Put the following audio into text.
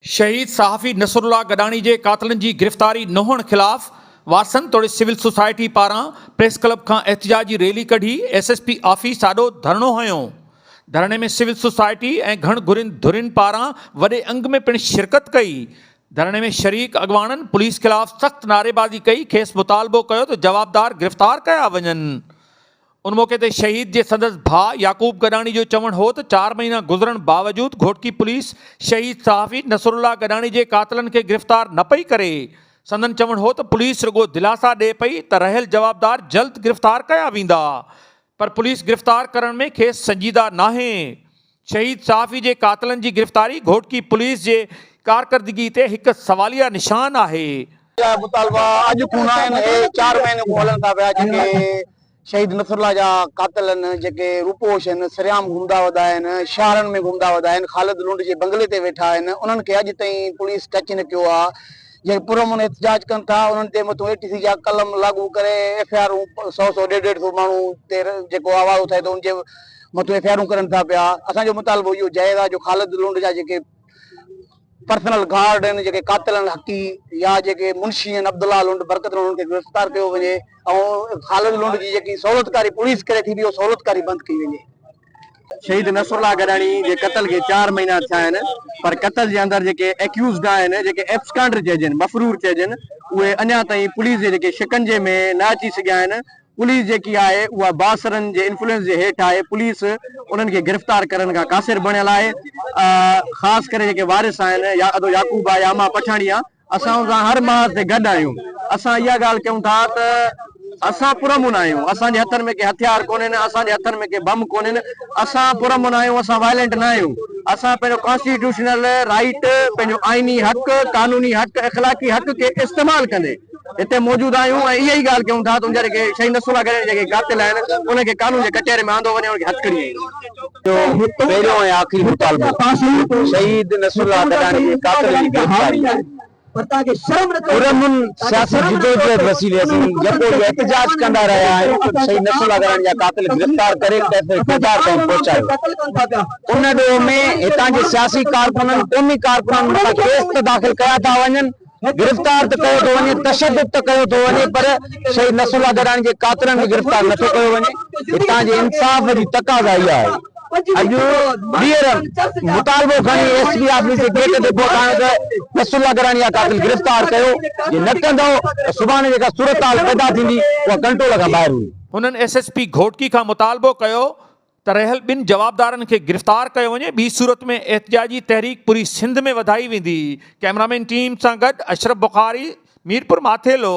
شهيد صحافي نصرالله گڏاڻي جي قاتلن جي گرفتاري نه هئڻ خلاف وارثن توڙي سول سوسائٽي پاران پريس ڪلب کان احتجاجي ريلي ڪڍي ايس ايس پي آفيس آڏو ڌرڻو هنيو ڌرڻي ۾ سول سوسائٽي ۽ گهڻ گهرين ڌرين پاران وڏي انگ ۾ پڻ شرڪت ڪئي ڌرڻي ۾ شريڪ اڳواڻن پوليس خلاف سخت نعريبازي ڪئي کيس مطالبو ڪيو ته جوابدار گرفتار ڪيا وڃن ان موقعي تي شهيد جي سندس ڀاء يعقوب گڏاڻي جو چوڻ هو ته چار مهينا گذرڻ باوجود گهوٽڪي پوليس شهيد صحافي نصرالله گڏاڻي جي قاتلن کي گرفتار نه پئي ڪري، سندن چوڻ هو ته پوليس رڳو دلاسا ڏئي پئي ته رهيل جوابدار جلد گرفتار ڪيا ويندا پر پوليس گرفتار ڪرڻ ۾ کيس سنجيده ناهي. شهيد صحافي جي قاتلن جي گرفتاري گهوٽڪي پوليس جي ڪارڪردگي تي هڪ سواليه نشان آهي. جا مطالبا اڄ کون نه آهن، اهي چار مهينن کون هلن ٿا پيا، جيڪي شهيد نصرالله جا قاتل آهن، جيڪي روپوش آهن، سرعام گهمدا ودا آهن، شهرن ۾ گهمدا ودا آهن، خالد لنڊ جي بنگلي تي ويٺا آهن، انهن کي اڄ تائين پوليس ٽچ نه ڪيو آهي، جيڪي پرامن احتجاج ڪن ٿا، انهن تي مٿون اي ٽي سي جا قلم لاڳو ڪري ايف آء آرون سؤ سؤ ڏيڍ ڏيڍ سؤ ماڻهو تي جيڪو آواز اٿائي ٿو ان جي مٿو ايف آء آرون ڪرن ٿا پيا اسان جو مطالبو اهو جائز آهي جو خالد لنڊ جا جيڪي پرسنل گارڊ آهن جيڪي قاتل آهن حقي يا جيڪي منشي آهن عبدالله لنڊ برڪت لنڊ کي گرفتار ڪيو وڃي ۽ خالد لنڊ جي جيڪي سهولتڪاري پوليس ڪري ٿي اهو سهولتڪاري بند ڪئي وڃي شهيد نصر الله گڏاڻي جي قتل کي چار مهينا ٿيا آهن پر قتل جي اندر جيڪي ايڪيوزڊ آهن جيڪي ايبسڪانڊر چئجن مفرور چئجن اهي اڃا تائين پوليس جي جيڪي شڪنجي ۾ نه اچي سگهيا آهن پوليس جيڪي آهي اها بااثرن جي انفلوئنس جي هيٺ آهي، پوليس انهن کي گرفتار ڪرڻ کان قاصر بڻيل آهي، خاص ڪري جيڪي وارث آهن يا ادو يعقوب آهي يا امان پٺاڻي آهي، اسان ان سان هر محاذ تي گڏ آهيون، اسان اها ڳالهه چئون ٿا ته اسان پرامن آهيون، اسان جي هٿن ۾ ڪي هٿيار ڪونهن، اسان جي هٿن ۾ ڪي بم ڪونهن، اسان پرامن آهيون، اسان وائلنٽ نه آهيون، اسان پنهنجو ڪانسٽيٽيوشنل رائيٽ، پنهنجو آئيني حق، قانوني حق، اخلاقي حق کي استعمال ڪندي. هتي موجود آهيون ۽ اها ئي ڳالهه ڪيون ٿا ته ان جا جيڪي شهيد نصرالله گڏاڻي جا جيڪي قاتل آهن انهن کي قانون جي ڪٽهري ۾ آندو وڃي ۽ انهن کي هٿڪڙي ڏني وڃي. جو پهريون ۽ آخري مطالبو شهيد نصرالله گڏاڻي جي قاتلن جي گرفتاري آهي. پرامن سياسي جدوجهد وسيلي اسين يڪو اهو احتجاج ڪندا رهيا آهيون ته شهيد نصرالله گڏاڻي جا قاتل گرفتار ڪري تحفظ ڪردار تائين پهچايو ان ڏوهه ۾ هتان جي سياسي ڪارڪنن قومي ڪارڪنن مٿان ڪيس ته داخل ڪيا ٿا وڃن گرفتار ته ڪيو ٿو وڃي، تشدد ته ڪيو ٿو وڃي پر شهيد نصر الله دراني جي قاتلن کي گرفتار نه ٿو ڪيو وڃي، هتان جي انصاف جي تقاضا اها آهي. اڄ ٻيهر مطالبو کڻي ايس پي آفيس جي گيٽ تي پهتايون ته نصر الله دراني جا قاتل گرفتار ڪيو، جي نه ڪندؤ ته سڀاڻي جيڪا صورتحال پيدا ٿيندي اها ڪنٽرول کان ٻاهر هوندي. هنن ايس ايس پي گهوٽڪي کان مطالبو ڪيو ته رهيل ٻن جوابدارن کي گرفتار ڪيو وڃي ٻي صورت ۾ احتجاجي تحريڪ پوري سنڌ ۾ وڌائي ويندي ڪئميرامين ٽيم سان گڏ اشرف بخاري ميرپور ماٿيلو.